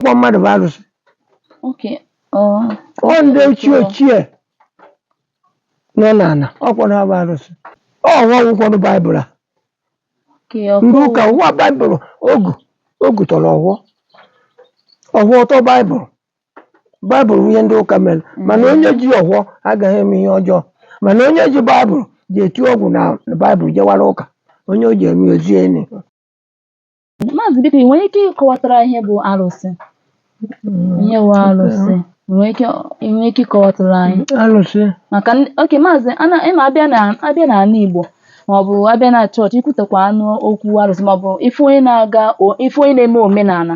ọkwa mmadụ bụ arụsị Okay. Oh. ọ ndị ochie ochie nọ n'ala ọkwanụ ha bụ arụsị ọfọ wụkwanụ baịbụl a Okay. ndị ọkụ- ụka wụ baịbụl ogu ogu tọrọ ọfọ ọfọ tọ baịbụl baịbụl bụ ihe ndị ụka mere mana onye ji ọfọ agaghị eme ihe ọjọọ mana onye ji baịbụl ji eti ọgwụ na baịbụl jewara ụka onye o ji eme ezi enyi Maazị biko ị nwere ike ịkọwatara ihe bụ arụsị ihe bụ arụsị ị nwere ike ị nwere ike ịkọwatara anyị alụsị maka ndị- oke maazị ana ịma abịa na abịa na ala Igbo maọbụ abịa na chọọchị ikwutekwanụ okwu arụsị maọbụ ife onye na-aga o- ife onye na-eme omenala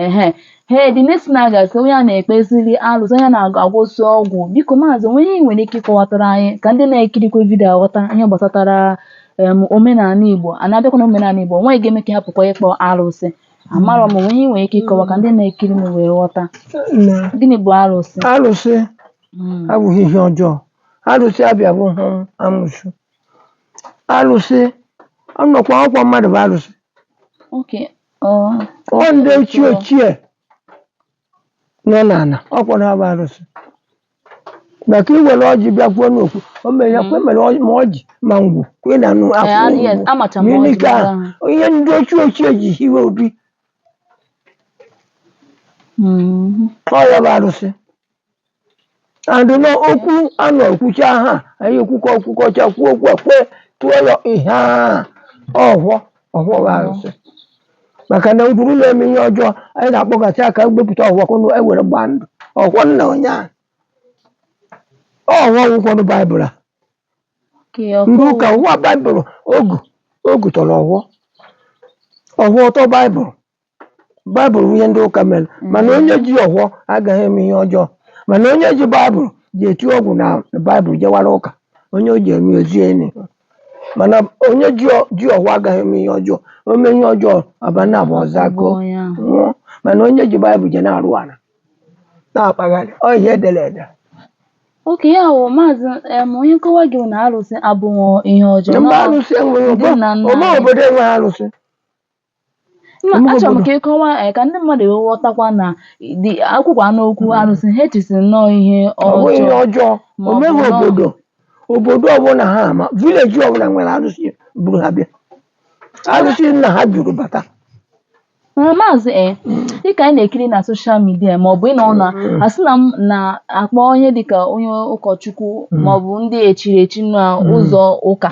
ehe he dị nesi na a ga-asị onye a na-ekpeziri arụsị onye a na-agwọzi ọgwụ biko maazị o nwee ihe ị nwere ike ịkọwatara anyị ka ndị na-ekirikwa vidiyo aghọta ihe gbasatara em omenala Igbo a na-abịakwa na omenala Igbo nwaanyị ga-eme ka ha pụkwa ịkpọ arụsị amarọ m o nwee ihe i nwere ike ịkọwa ka ndị na-ekiri m wee ghọta na gịnị bụ arụsị arụsị Mm, abụghị ihe ọjọọ arụsị abụghị amụsụ arụsị ọnọkwa ọkwa mmadụ bụ arụsị okay ọ ọ ndị ochie ochie nọ n'ala ọkwanụ ha bụ arụsị maka i were ọjị bịa kwuo n'okwu o mere ya kwuo mere ọjị- ma ọjị ma ngwu ka ị na-anụ Eh, akwụ ah, ngwụ. yes, amacha m Ma ọjị ilike mara ahụ, ha. ihe ndị ochie ochie ji hiwe obi Mhm. ọ ya bụ arụsị and na okwu a na-ekwucha ha anyị ekwukọ kwukọcha kwuo okwu a kwe tụọ ya ihe a ọfọ ọfọ bụ arụsị maka na ọ bụrụ na e mee ihe ọjọọ anyị na-akpọgasị aka wepụta ọfọ ka unu ewere gbaa ndụ ọfọ nna onye a ọfọ wụkwanụ baịbụl a Ka ya ndị ọkụ ụka wụ baịbụl ogu ogu tọrọ ọfọ ọfọ tọ baịbụl baịbụl bụ ihe ndị ụka mere mana onye ji ọfọ agaghị eme ihe ọjọọ mana onye ji baịbụl ji eti ọgwụ na baịbụl jewara ụka onye o ji eme ezi enyi mana onye ji ọ- ji ọfọ agaghị eme ihe ọjọọ o mee ihe ọjọọ abanị abụọ ọzọ agụọ onye ahụ nwụọ mana onye ji baịbụl je na-arụ ala na-akpagharị ọ ihe edere ede oke ya wụ maazị em, onye nkọwa gị bụ na arụsị abụghị ihe ọjọọ mba Nọ- arụsị enweghị ndị nna nna obe anyị. obodo enweghị arụsị Mma achọrọ m ka ị kọwaa eh, ka ndị mmadụ wee ghọtakwa na e kwukwanụ okwu arụsị ha echesi nnọọ ihe ọ bụ ihe ọjọọ ọjọọ ma ọ o bụ meghị nọọ- obodo obodo ọbụla ha ma vileji ọbụla nwere arụsị buru ha bịa arụsị nna ha buru bata Ee, maazị e dịka anyị na-ekiri na soshal midia maọbụ ị nọ na asị na m na-akpọ ihe dịka onye ụkọchukwu maọbụ ndị echiri echi na ụzọ ụka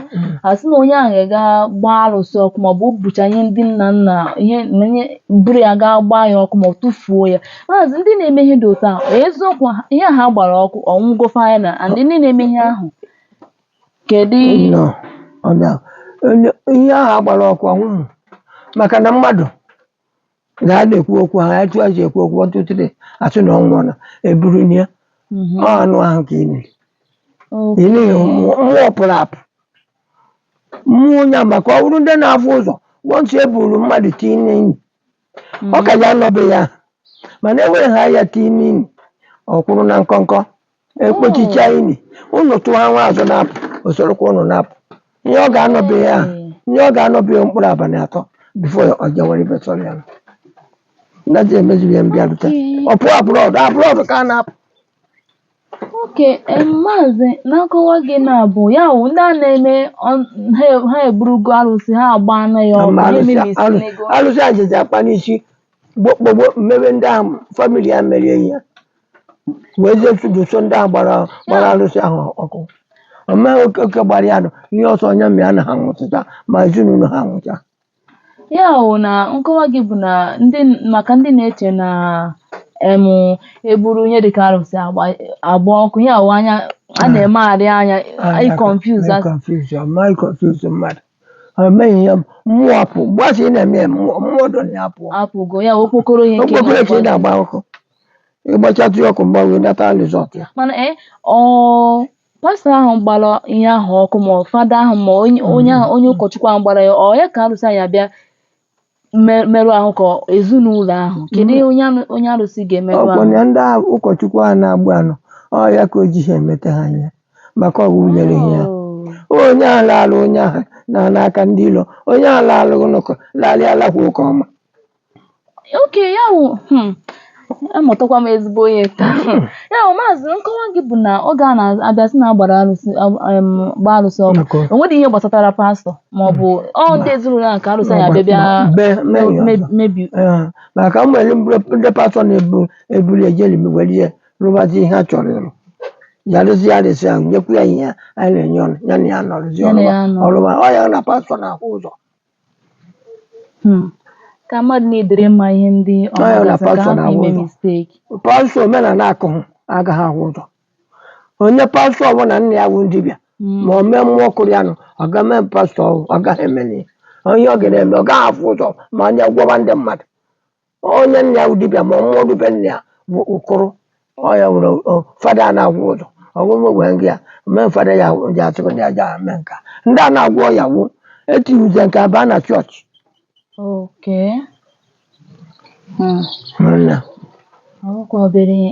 a sị na onye ahụ ga-aga gbaa arụsị ọkụ maọbụ o bucha ihe ndị nna nna ihe na ihe buru ya gaa gbaa ya ọkụ maọbụ tụfuo ya maazị ndị na-eme ihe dị otu ahụ eziokwu ha- ihe a ha gbara ọkụ ọ nwụgo final and ndị na-eme ihe ahụ kedu nọ ọ na- onye- ihe ahụ a gbara ọkụ anwụhụ maka na mmadụ na a na-ekwu okwu ha etu a ji ekwu okwu ọtụtụre a sị na ọ nwụọla e buru nie Mhm. ọ anụ ahụ ka e niri Okay. e nihu mmụọ mmụọ pụrụ apụ mmụọ onye a maka ọ bụrụ ndị na-afụ ụzọ once e buru mmadụ tii n'ini ọ ka ya anọbe ya mana e were ha ya tii n'ini ọ kwụrụ na nkọnkọ e kpochichaa ini ụnụ tụghawa azụ na-apụ o sorokwa ụnụ na-apụ ihe ọ ga-anọ ebe ahụ ihe ọ ga-anọ ebe ahụ mkpụrụ abalị atọ before ọ jewere ebe sọrọ ya na ji emezighị ihe mbịarute ọ pụọ abroad abroad ka a na-apụ okay em, maazị na nkọwa gị na-abụ ya wụ ndị a na-eme ọ- ha ha eburugo arụsị ha agba nụ ya ọkụ ma ha alụsị emebisi alụ- n'ego alụsị ajịja akpa n'isi gbokpogbo mebe ndị ahụ family ya mere ihe a wee jee chụdụso ndị a gbara gbara arụsị ahụ ọkụ o mee oke oke gbara ya nụ ihe sọ ya mee na ha nwụcha ma ezinụlọ ha nwụcha ya wụ na nkọwa gị bụ na ndị maka ndị na-eche na em e buru ihe dịka arụsị agba agba ọkụ ya wụ anya a na-emegharị anya i confuse as confuse ma confuse mmadụ ha emeghị ihe mmụọ apụ mgbe a sị ị na-eme ya, mmụọ mmụọ dọ na ya pụọ apụgo ya wụ okpokoro ihe nke okpokoro ka ị na-agba ọkụ ị gbachatụ ya ọkụ mgbe wee nata result ya mana ee ọ pastọ ahụ gbara ihe ahụ ọkụ ma ọ fada ahụ ma onye onye ahụ onye ụkọchukwu ahụ gbara ya ọ ya ka arụsị a ya-abịa me- merụ ahụ ka ezinụlọ ahụ kedu ihe onye anụ- onye arụsị ga-emerụ ahụ ọkpọnya ndị ahụ ụkọchukwu ahụ na-agba nụ ọ ya ka o ji ha emete ha anya maka ọgwụ nyere ha ya Oh. onye ahụ laala onye ahụ na n'aka ndị ilo onye ahụ laala ụlọkọ laala alakwa ụka ọma okay ya wụ hmm, amụtakwa m ezigbo ihe taa hmm. ya wụ maazị nkọwa gị bụ na oge a na-abịa sị na a gbara arụsị gbaa arụsị ọkụ o nwere ihe gbasatara pastọ ma ọ bụ ọ ndị ezinụlọ a ka arụsị ya-abịa mebi maka e nwere ndị pastọ na-eburu ya jiri were ihe rụbazi ihe a chọrọ ịrụ ya rụzi ya arụsị ahụ nyekwu ya ihe anyị na-enye ọrụ ya na ya nọrụzi ọrụ ọrụ ọ ya na pastọ na-ahụ ụzọ Hmm. ka mmadụ na-edere mma ihe ndị ọ Ọ ya na na-agazi ka pastọ ha na-ahụ ime ụzọ. mistake pastọ omenala akụhụ agaghị afụ ụzọ onye pastọ ọbụla nna ya wụ dibịa Mm. ma o mee mmụọ kụrụ ya nụ ọ ga mee pastọ ọhụụ, ọ gaghị emeli ya ihe ọ ga na-eme ọ gaghị afụ ụzọ ma onye gwọba ndị mmadụ onye nna ya wụ dibịa ma mmụọ dibịa nna ya bụ ụkụrụ ọya nwere ọ- fada a na-agwọ ụzọ ọṅụṅụ gwa gị ya mee fada ya ji atụrụ ndị aja a mee nka ndị na-agwọ ọya wụ etiwuze nke a baa na chọọchị Okay. Hmm. nna Ọ bụkwa obere ihe.